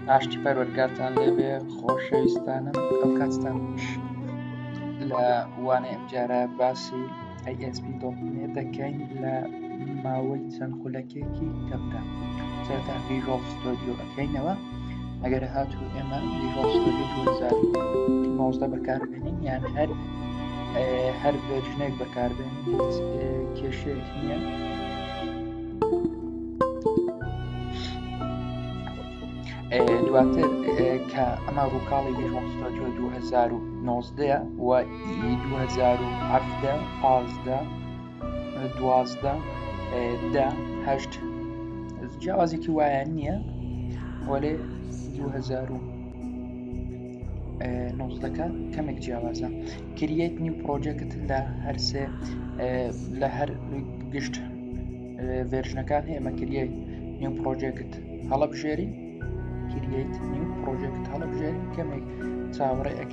ئاشتی پەروەرگارتان لێبێ خۆشەویستانم ئەو کاتتان لە وانێ ئەمجارە باسی ئەیئسپی دەکەین لە ماوەی چەند خولەکێکی کەمدا سەرتا ڤیژۆڵ ستۆدیۆ ئەەکەینەوە ئەگەر هاتو ئێمە ڤیژۆڵ ستۆدیۆ 2019 بەکاربێنین یان هەر هەر ڤێژنێک بەکاربێن کێشێک نییە دواتر کە ئەمە ڕووکاڵی 2019 و 2010 پازدە دوازدە دە هەشت جیاوازێکی وایە نییە وەێ 2009ەکە کەمێک جیاوازە کریەت نیو پرۆژەکەت لە هەرسێ لە هەر گشت ڤێرژنەکان هەیە مەکریە نیو پرۆژێکت هەڵبژێری کریت نیو پرۆژێکت هەڵبژێری کەمێک چاوەڕێ ئەک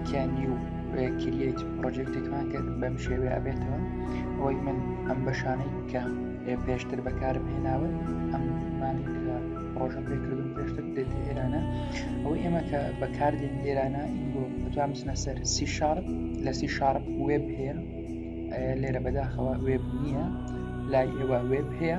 کە نیو کریت پرۆژێکتێکمان کرد بەم شێوێ ئەبێتەوە ئەوەی من ئەم بەشانەی کە پێشتر بەکارم هێناون ئەمانی کە پرۆژە پێکردن پێشتر دێت ئێرانە ئەو ئێمە کە بەکاردێن ئێرانە ئینگۆ بەتوان بچنە سەر سی شارپ لە سی شارپ وێب هەیە لێرە بەداخەوە وێب نییە لای ئێوە وێب هەیە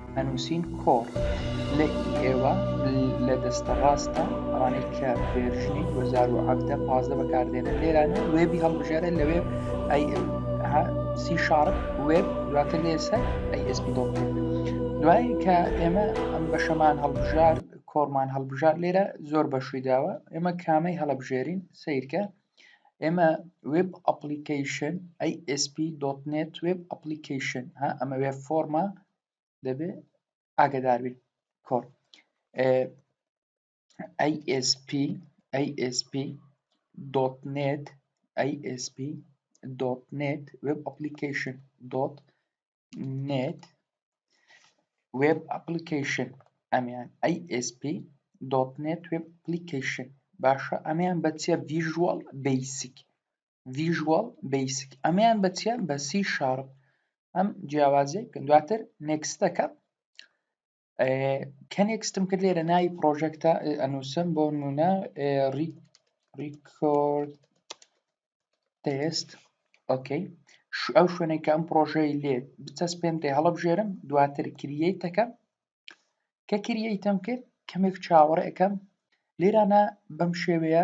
ئەنووسین کۆڕ لە ی ئێوە لە دەستە ڕاستە ئەوانەی کە ڤێرژنی دوو هەزار و حەڤدە پازدە بەکاردێنن لێرانە وێبی هەڵبژێرە لە وێب ئەی ئێم ها سی شارپ وێب دواتر لێ سەر ئەی ئێس پی دۆت نێت دوای کە ئێمە ئەم بەشەمان هەڵبژارد کۆڕمان هەڵبژارد لێرە زۆر بەشووی داوە ئێمە کامەی هەڵەبژێرین سیرکە ئێمە وێب ئەپلیکەیشن ASP دۆت نێت وێب ئەپلیکەیشن ها ئەمە وێب فۆرمە دەبێ ئاگداربی کۆر ASP ASP دۆت نێت ASP دۆت نێت وێب ئەپلیکەیشن دۆت نێت وێب ئەپلیکەیشن ئەمیان ASP دۆت نێت وێب ئەپلیکەیشن باشە ئەمیان بە چیە ڤیژوەڵ بیسیک ڤیژوەڵ بیسیک ئەمیان بە چیە بە سی شارپ ئەم جیاوازی دواتر نێکستەکە کەنێک ستم کرد لێرە ناوی پرۆژەکتە ئەنووسم بۆ نمونە ریکۆرد تست ئۆکەی ئەو شوێنێک کە ئەم پرۆژەی لێ بچەسپێنێ هەڵبژێرم دواتر کریەیتەکە کە کریەیتم کرد کەمێک چاوەڕێکەم لێرانە بەم شێوەیە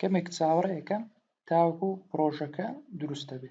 کەمێک چاوەڕێ ئەکەم تاوەکو پڕۆژەکە دروست دەبێ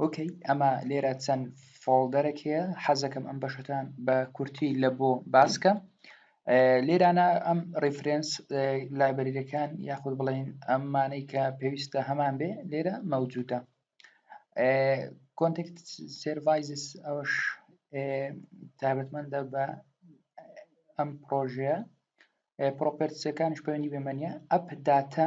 ئۆکەی ئەمە لێرە چەند فۆڵدەرێک هەیە حەزەکەم ئەم بەشەکان بە کورتی لە بۆ باسکە لێرانە ئەم ڕیفرنس لایبەریەکان یاخود بڵین ئەمانەی کە پێویستە هەمان بێ لێرە مەوجودە کۆنتکت سرڤایزس ئەوش تابەتمەندە بە ئەم پرۆژەیە پرۆپەرسەکانش پەیوەنی بەمەنیە ئەپ داتا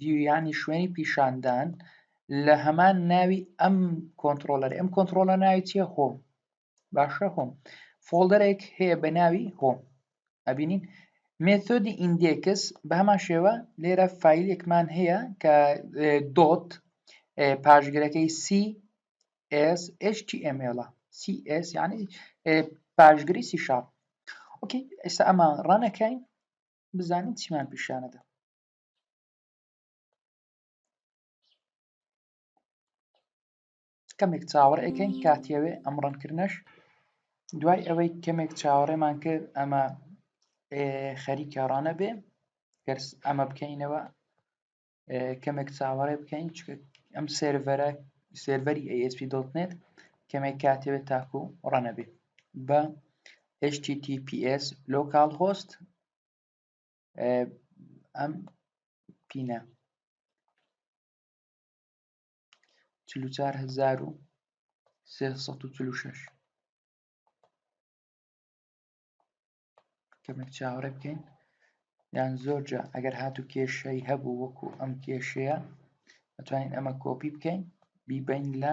ڤیویانی شوێنی پیشاندان لە هەمان ناوی ئەم کۆنتترۆلەری ئەم کۆنتترۆلە ناوی چیە هۆم باشە هۆم فۆلدەرێک هەیە بە ناوی هۆم ئەبینین مێتۆدی ئیندێکس بە هەمان شێوە لێرە فیلێکمان هەیە کە دۆت پاشگرەکەی CSHTML CS یعنی پاشگری سی شاپ ئۆکی ئێستا ئەمە ڕانەکەین بزانین چیمان پیشانەدا کەمێک چاوەڕ ئەکەین کاتیەوێ ئەم ڕەنکردنەش دوای ئەوەی کەمێک چاوەڕێمان کرد ئەمە خەریکە ڕانە بێ گەرس ئەمە بکەینەوە کەمێک چاوەڕێ بکەین ئەم سێرڤەرە سێرڤەری ئەسP دڵنێت کەمێک کاتێوێت تاکو ڕەنە بێ بە HTTPS لۆکال هۆست ئەم پینە چل و چار هەزار و سێ سەد و چل و شەش کەمێک چاوەڕێ بکەین یان زۆرجە ئەگەر هات و کێشەی هەبوو وەکو ئەم کێشەیە دەتوانین ئەمە کۆپی بکەین بیبین لە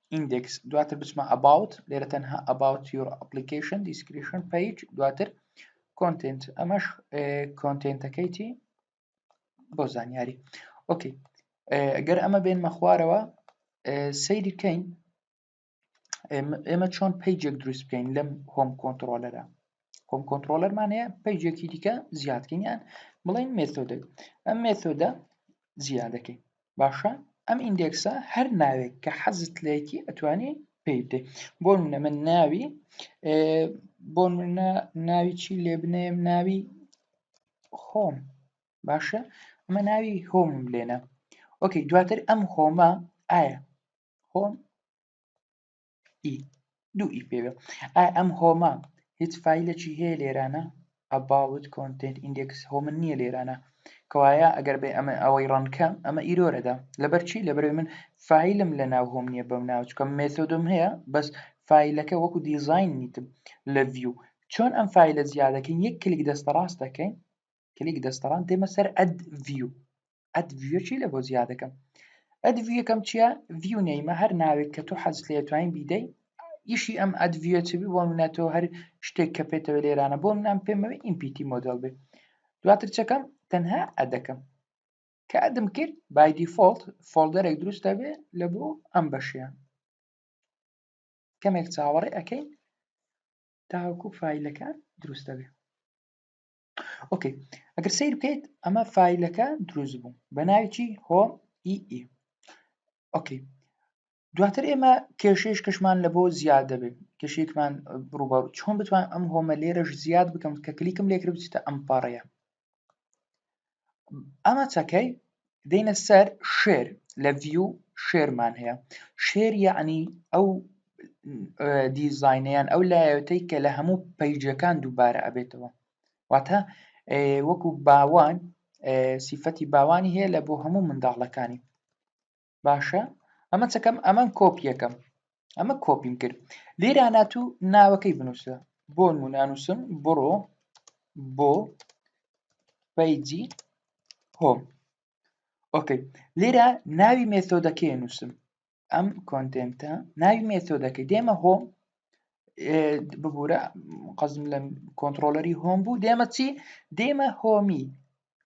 index دواتر بچمە about لێرە تەنها about your application description page دواتر content ئەمەش کۆنتنتەکەیتی بۆ زانیاری ئۆکی ئەگەر ئەمە بێن مەخوارەوە سەیری کەین ئێمە چۆن پیجێک دروست بکەین لەم هۆم کۆنتترۆلەرە خۆم کۆنتترۆلەرمان هەیە پەیجێکی دیکە زیادکەیان بڵێن مێتۆدە ئەم مێتۆدە زیادەکەی باشە ئەم ئیندێکسە هەر ناوێک کە حەزت لەیەکی ئەتوانی پێی بدێ بۆ منە من ناوی بۆ منە ناوی چی لێ بنێم ناوی خۆم باشە ئەمە ناوی هۆم لێنە ئۆکەی دواتر ئەم هۆمە ئایا هۆم ئی دوو ئی پێوێ ئایا ئەم هۆمە هیچ فایلێکی هەیە لێرانە ئەباوت کۆنتێنت ئیندێکس هۆمن نییە لێرانە کەوایە ئەگەر بێ ئەمە ئەوەی ڕەنکەم ئەمە ئیرۆرەدا لەبەر چی لەبەرەوەی من فیلم لە ناو هۆم نییە بەم ناوچکەم مێتۆدم هەیە بەس فیلەکە وەکو دیزین نیتم لە ڤیو چۆن ئەم فیلە زیادەکەین یەک کلیک دەستە ڕاست دەکەین کلیک دەستەڵام دێمە سەر ئەد ڤیو ئەد ڤیو چی لە بۆ زیادەکەم ئەد ڤیوەکەم چییە ڤیو نەیمە هەر ناوێک کە تۆ حەز لێ توانین بیدەی ئیشی ئەم ئەد ڤیو چ بۆ منە تۆ هەر شتێک کە پێێتەوە لێرانە بۆ منام پێمەوە ئیمپیتی مۆدل بێ دواتر چەکەم تەنها ئەدەکەم کە ئەدم کرد بای دیفۆلت فۆلدەرێک دروست دەبێ لە بۆ ئەم بەشیان کەمێک چاوەڕێ ئەەکەین تاوەکو فیلەکان دروست دەبێ ئۆکەی ئەگەر سیر بکەیت ئەمە فیلەکە دروست بوو بە ناویی هۆ ئی e ئی e. ئۆکەی دواتر ئێمە کێشەیش کەشمان لە بۆ زیاد دەبێت کێشێکمان بڕوبار چۆن بتوان ئەم هۆمە لێرەش زیاد بکەم کە کلیکم لێکرد بچیتە ئەم پاڕەیە ئەمە چەکەی دێنە سەر شێر لە ڤیو شێرمان هەیە شێر یعنی ئەو دیزینیان ئەو لایەتەی کە لە هەموو پەیجەکان دووبارە ئەبێتەوە واتە وەکو باوان سیفەتی باوانی هەیە لە بۆ هەموو منداڵەکانی باشە ئەمە چەکەم ئەمە کۆپیەکەم ئەمە کۆپیم کرد لێرا ناتوو ناوەکەی بنووسە بۆ نمونانووسم بڕۆ بۆ پیجی هۆم ئۆکەی لێرە ناوی مێتۆدەکەی نووسم ئەم کۆنتێنتە ناوی مێتۆدەکەی دێمە هۆم ببوورە قەزم لە کۆنتترۆلەری هۆم بوو دێمە چی دێمە هۆمی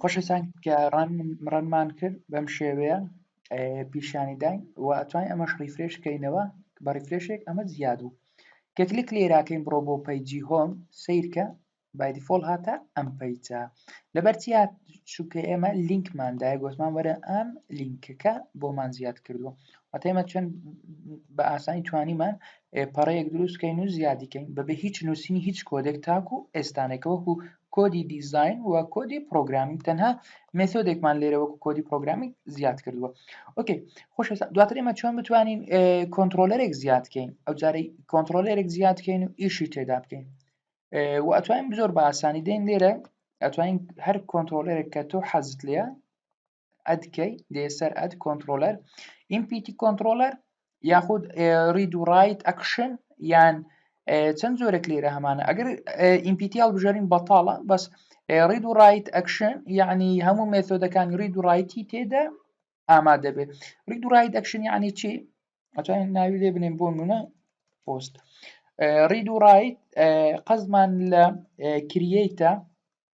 خۆشەویستان کە ڕەنمان کرد بەم شێوەیە پیشانی داین و ئەتوانین ئەمەش ڕیفرێش کەینەوە بە ڕیفرێشێک ئەمە زیاد بوو کە کلیک لێراکەین بڕۆ بۆ پەیجی هۆم سیرکە بایدیفۆل هاتە ئەم پەیجە لەبەرچیا چووکە ئێمە لینکماندای گۆتمان وەرە ئەم لینکەکە بۆمان زیاد کردووە ئەتێمە چەند بە ئاسانی توانیمان ئێ پەڕەیەک دروست کەین و زیادی کەین بەبێ هیچ نووسینی هیچ کۆدێک تاکو ئێستانێک کە وەکو کۆدی دیزاین و کۆدی پرۆگرامینگ تەنها مێثۆدێکمان لێرە وەکو کۆدی پرۆگرامینگ زیاد کردووە ئۆکەی خۆش دواتر ئێمە چۆن بتوانین کۆنترۆلەرێک زیاد کەین ئەو جارەی کۆنترۆلەرێک زیاد کەین و ئیشی تێدا بکەین و ئەتوانین زۆر بە ئاسانی دێن لێرە ئەتوانین هەر کۆنترۆلەرێک کە تۆ حەزت لێە ئەد کەی دێ سەر ئەد کۆنتترۆلەر ئیمپیتی کۆنتترۆلەر یاخود ڕید و ڕایت ئەکشن یان چەند جۆرەک لێرە هەمانە ئەگەر ئیمپیتیال بژارین بەتاڵە بەس ڕید و ڕایت ئەکشن یعنی هەموو مێثۆدەکانی ڕید و ڕایتی تێدا ئامادە بێت ڕید و ڕایت ئەکشن یعنی چی ئەتوانین ناوی لێ بنێن بۆ منە پۆست ڕید و ڕایت قەزمان لە کریەیتە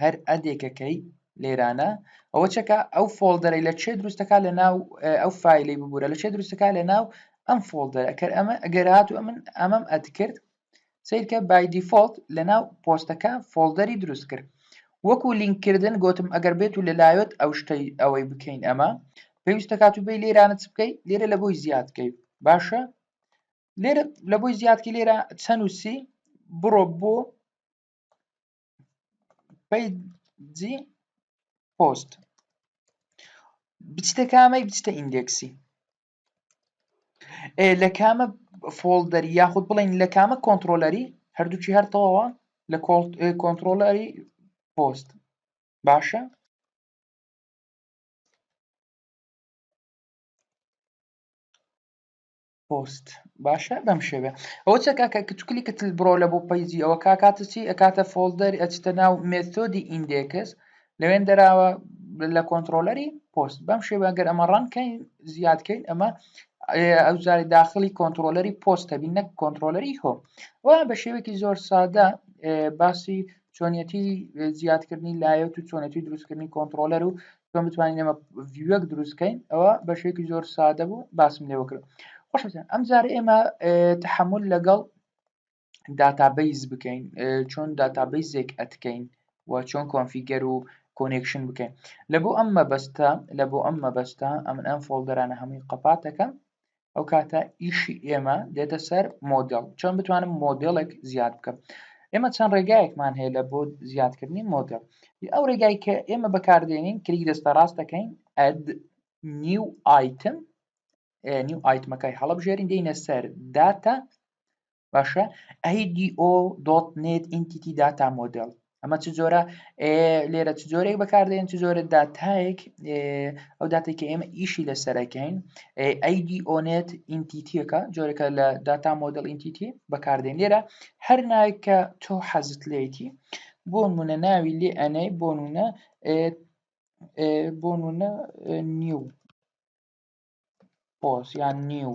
هەر ئەدێکەکەی لێرانە ئەوە چەکە ئەو فۆلدەرەی لە چێ دروستەکە لە ناو ئەو فیلی ببوورە لە چێ دروستەکە لە ناو ئەم فۆلدەر ئەکەر ئەمە ئەگەرات و من ئەمەم ئەتکرد سیرکە بای دیفۆلت لە ناو پۆستەکە فۆلدەری دروست کرد وەکو لینککردن گوتم ئەگەر بێت و لەلایەت ئەو شتەی ئەوەی بکەین ئەمە پێویستە کات و بێ لێرانە چ بکەیت لێرە لە بۆی زیادکەی باشە لێرە لە بۆی زیادکی لێرە چەند وسی بڕۆ بۆ پەیجی پۆست بچتە کامەی بچتە ئیندێکسی لە کامە فۆڵدەری یاخود بڵین لە کامە کۆنتترۆلەری هەردووچی هەرتەوەوە لە کۆنتترۆلەری پۆست باشە پۆست باشە بەم شێوێ ئەوە چە کاکە کە توکلی کە تل بڕۆ لە بۆ پەیجی ئەوە کاکاتە چی ئەکاتە فۆلدەر ئەچتە ناو مێتۆدی ئیندێکس لەوێن دەراوە لە کۆنتترۆلەری پۆست بەم شێوە گەر ئەمە ڕەنکەین زیادکەین ئەمە ئەوزاری داخلی کۆنتترۆلەری پۆستە بین نەک کۆنتترۆلەری هۆ و بە شێوێکی زۆر سادە باسی چۆنیەتی زیادکردنی لایەت و چۆنەتی دروستکردنی کۆنتترۆلەر و چۆن بتوانین ئێمە ڤیوەک دروستکەین ئەوە بەشێکی زۆر سادە بوو باسم لێوە کرد خۆشتان ئەم جارە ئێمە تحمل لەگەڵ داتابیس بکەین چۆن داتابیسێک ئەتکەین و چۆن کۆنفیگەر و کۆنێکشن بکەین لە بۆ ئەم مەبەستە لە بۆ ئەم مەبەستە ئەمن ئەم فۆلدەرانە هەمووی قەپاتەکەم ئەو کاتە ئیشی ئێمە دێتە سەر مۆدل چۆن بتوانم مۆدلێک زیاد بکەم ئێمە چەند ڕێگایەکمان هەیە لە بۆ زیادکردنی مۆدل ئەو ڕێگای کە ئێمە بەکاردێنین کلیک دەستە ڕاست دەکەین ئەد نیو ئایتم نیو ئایتمەکەی هەڵبژێرین دێنە سەر داتا باشە ئەیDO دۆت نێت ئینتیتی داتا مۆدل ئەمە چ جۆرە لێرە چ جۆرێک بەکاردێن چ جۆرە داتایەک ئەو داتێک کە ئێمە ئیشی لەسەرەکەین ئەیDO نێت ئینتیتیەکە جۆرەکە لە داتا مۆدل ئینتیتی بەکاردێن لێرە هەر ناوێک کە تۆ حەزت لێتی بۆ منە ناوی لێ ئەنەی بۆ نونە بۆ نونە نیو پۆس یان نیو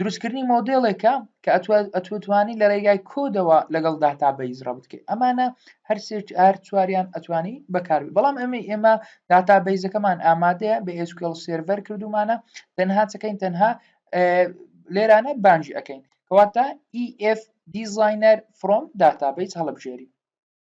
دروستکردنی مۆدێڵێکە کە ئەتوتوانی لە ڕێگای کۆدەوە لەگەڵ داتا بەیز ڕە بکەیت ئەمانە هەرسێک ئار چواریان ئەتوانی بەکاربی بەڵام ئەمە ئێمە داتا بەیزەکەمان ئامادەیە بە ئێسکل سێرڤەر کردومانە تەنها چەکەین تەنها لێرانە بانجی ئەەکەین کەواتە EF دیزینەر فرۆم داتا بەیز هەڵبژێری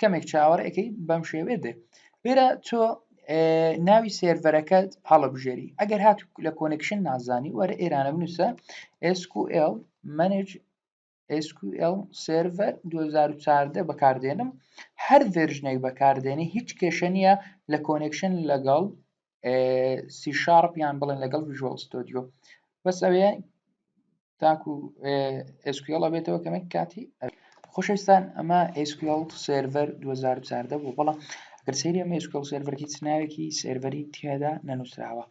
کەمێک چاوەڕ ئەەکەی بەم شێوێ دێ لێرە تۆ ناوی سێرڤەرەکەت هەڵبژێری ئەگەر هات لە کۆنکشن نازانی وەرە ئێرانە بنووسە SQL منج SQL سرڤەر 2014 بەکاردێنم هەر ڤێرژنێک بەکاردێنی هیچ کێشە نییە لە کۆنکشن لەگەڵ سی شارپ یان بڵێن لەگەڵ ویژۆڵ ستۆدیۆ بەس ئەوێ تاکو ئسکیڵە بێتەوە کەمە کاتی خوشستان ئەمە ئسکیڵ سرڤەر 2014 بوو بەڵام گەر سری ئەمە ئسکیڵ سرڤەر هیچ ناوێکی سرڤەری تێدا نەنووسراوە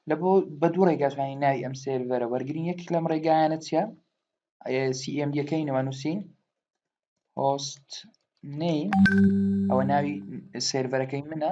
لە بۆ بە دوو ڕێگاتوانی ناوی ئەم سرڤەرە وەرگین یەک لەم ڕێگایانە چە سیM یەکەی نەوە نووسین هۆست نەی ئەوە ناوی سرڤەرەکەی منە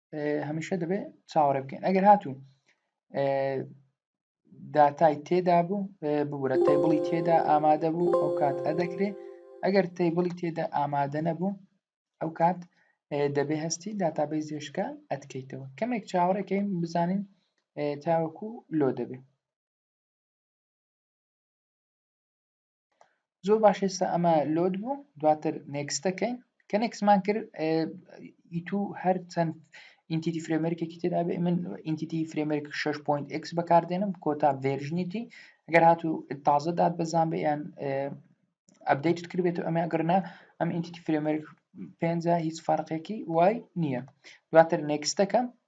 هەمیشە دەبێت چاوەڕێ بکەین ئەگەر هاتوو داتای تێدا بوو ببورە تەیبڵی تێدا ئامادە بوو ئەو کات ئەدەکرێ ئەگەر تەیبڵی تێدا ئامادە نەبوو ئەو کات دەبێ هەستی داتابەی زێشکە ئەتکەیتەوە کەمێک چاوەڕێکەین بزانین تاوەکو لۆ دەبێت زۆر باش ئێستا ئەمە لۆد بوو دواتر نێکستەکەین کە نێکسمان کرد ئیتو هەر چەند ئینتیتی فرێمەرکێکی تێدا بێ من ئینتیتی فرێمەرک 6.x بەکاردێنم کۆتا ڤێرژنیتی ئەگەر هاتوو تازە داد بەزان بێ یان ئەبدەیت کردبێت و ئەمە ئەگەرنا ئەم ئینتیتی فرێمەرک پێ هیچ فەرقێکی وای نییە دواتر نێکستەکەم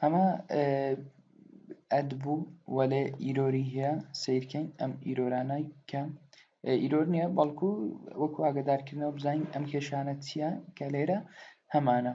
ئەمە ئەد بوو وەلێ ئیرۆری هەیە سیرکەین ئەم ئیرۆرانای کەم ئیرۆر نییە بەڵکو وەکو ئاگدارکردنەوە بزانین ئەم کێشانە چییە کە لێرە هەمانە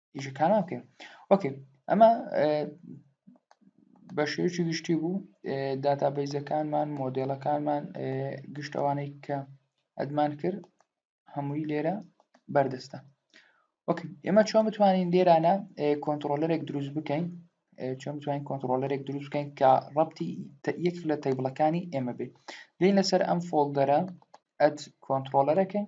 ئیشە کارمان بکەین ئۆکەی ئەمە بە شێوکی گشتی بوو داتابیزەکانمان مۆدلەکانمان گشتەوانەی کە ئەدمان کرد هەمووی لێرە بەردەستە وەکە ئێمە چۆن بتوانین لێرانە کۆنتترۆلەرێک دروست بکەین چۆن بتوانین کۆنتترۆلەرێک دروست بکەین کە ڕەتی یەک لە تەیبڵەکانی ئێمە بێت لین لەسەر ئەم فۆلدەرە ئەت کۆنتترۆلەرەکەین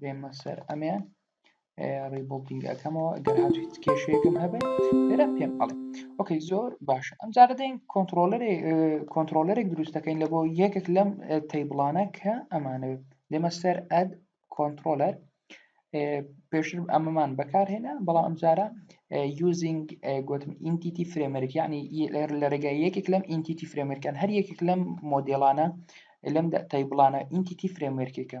بێمە سەر ئەمیان ڕیبڵدینگ ئەەکەمەوە ئەگەر هات هیچ کێشەیەکم هەبێت لێرە پێم ئەڵێ ئۆکەی زۆر باشە ئەم جارە دەین کۆنتترۆلەرێک کۆنتترۆلەرێک دروست دەکەین لە بۆ یەکێک لەم تەیبڵانە کە ئەمانە لێمە سەر ئەد کۆنتترۆلەر پێشتر ئەمەمان بەکارهێنا بەڵام ئەمجارە یوزینگ گوتم ئینتیتی فرێمەرک ینی لە ڕێگای یەکێک لەم ئینتیتی فرێمەرکان هەر یەکێک لەم مۆدێلانە لەم تای بڵانە ئینتیتی فرێمەرکێکە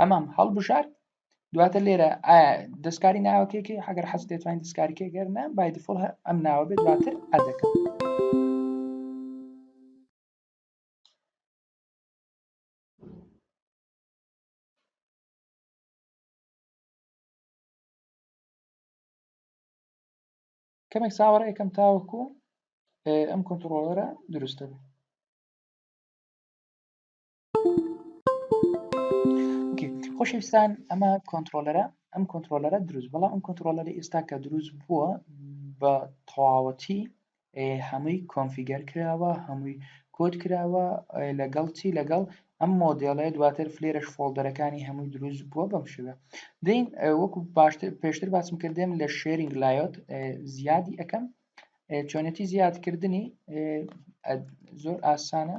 ئەمام هەڵبژارد دواتە لێرە دەستکاری ناوەکەێکی هەگەر حەز دەتوانین دەستکاریکە گەرنا بای دفڵ ئەم ناوە بێت دواتر ئەدەکە کەمێک ساوەڕ یەکەم تاوەکو ئەم کۆنتترۆلەرە دروستە بێت خۆشەویستان ئەمە کۆنتترۆلەرە ئەم کۆنتترۆلەرە دروست بەڵام ئەم کۆنتترۆلەری ئێستا کە دروست بووە بە تەواوەتی هەمووی کۆنفیگەر کراوە هەمووی کۆت کراوە لەگەڵ چی لەگەڵ ئەم مۆدلێ دواتر فلێرش فۆلدەرەکانی هەمووی دروست بووە بەم شوێ دین وەکو باشتر پێشتر باسم کردێن لە شێرینگ لایۆت زیادی ئەەکەم چۆنێتی زیادکردنی زۆر ئاسانە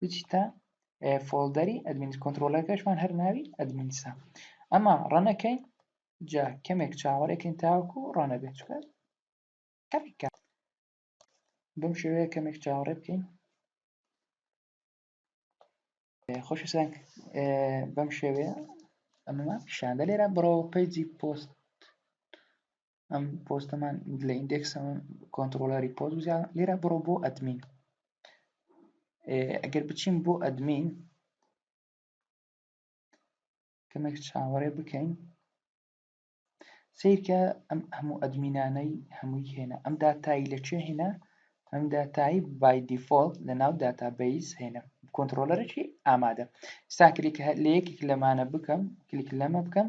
بچیتە فۆڵدەری ئەدمین کۆنتترۆلەکەشمان هەر ناوی ئەدمینسا ئەمە ڕەنەکەی جا کەمێک چاوەڕێکن تاوەکو و ڕەنە بێت چکە کەمیکە بەم شێوەیە کەمێک چاوەڕێ بکەین خۆش سەنگ بەم شێوەیە ئەمەمان پیشاندە لێرە بڕەوە پەیجی پۆست ئەم پۆستەمان لە ئیندێکس کۆنتترۆلەری پۆز لێرە بڕۆ بۆ ئەدمین ئەگەر بچین بۆ ئەدمین کەمێک چاوەڕێ بکەین سیرکە ئەم هەموو ئەدمینانەی هەمووی هێنا ئەم داتایی لەکوێ هێنا ئەم داتایی بای دیفۆلت لە ناو داتابیس هێنا کۆنتترۆلەرێکی ئامادە ساکرێک لە یەکێک لەمانە بکەم کلیک لەمە بکەم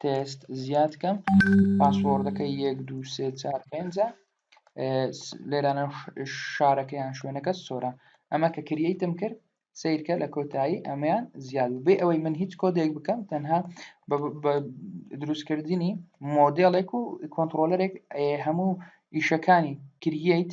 تێست زیاد کەم پاسۆردەکە یەک دو سێ چار پێنجە لێرانە شارەکەیان شوێنەکە سۆرە ئەمە کە کریتم کرد سیرکە لە کۆتایی ئەمەیان زیاد بێ ئەوەی من هیچ کۆدێک بکەم تەنها دروستکردنی مۆدلێک و کۆنتترۆلەرێک هەموو ئیشەکانی کریت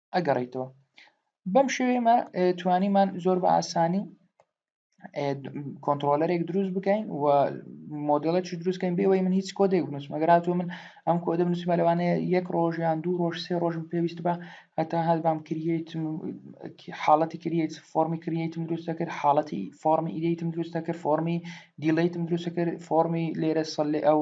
ئەگەڕیتەوە بەم شێوێمە توانیمان زۆر بە ئاسانی کۆنتترۆلەرێک دروست بکەین و مۆدلە چی دروستکەین بێەوەی من هیچ کۆدێک بنووسم ئەگەراتوە من ئەم کۆدە بنووسمە لەوانەیە یەک ڕۆژیان دوو ڕۆژ سێ ڕۆژم پێویست بە هەتا هەر بام کریت حاڵەتی کریت فۆمی کریتم دروستە کرد حاڵەتی فۆمی ئیدیتم دروستە کرد فۆمی دیلیتم دروستە کرد فۆمی لێرە سەلێ ئەو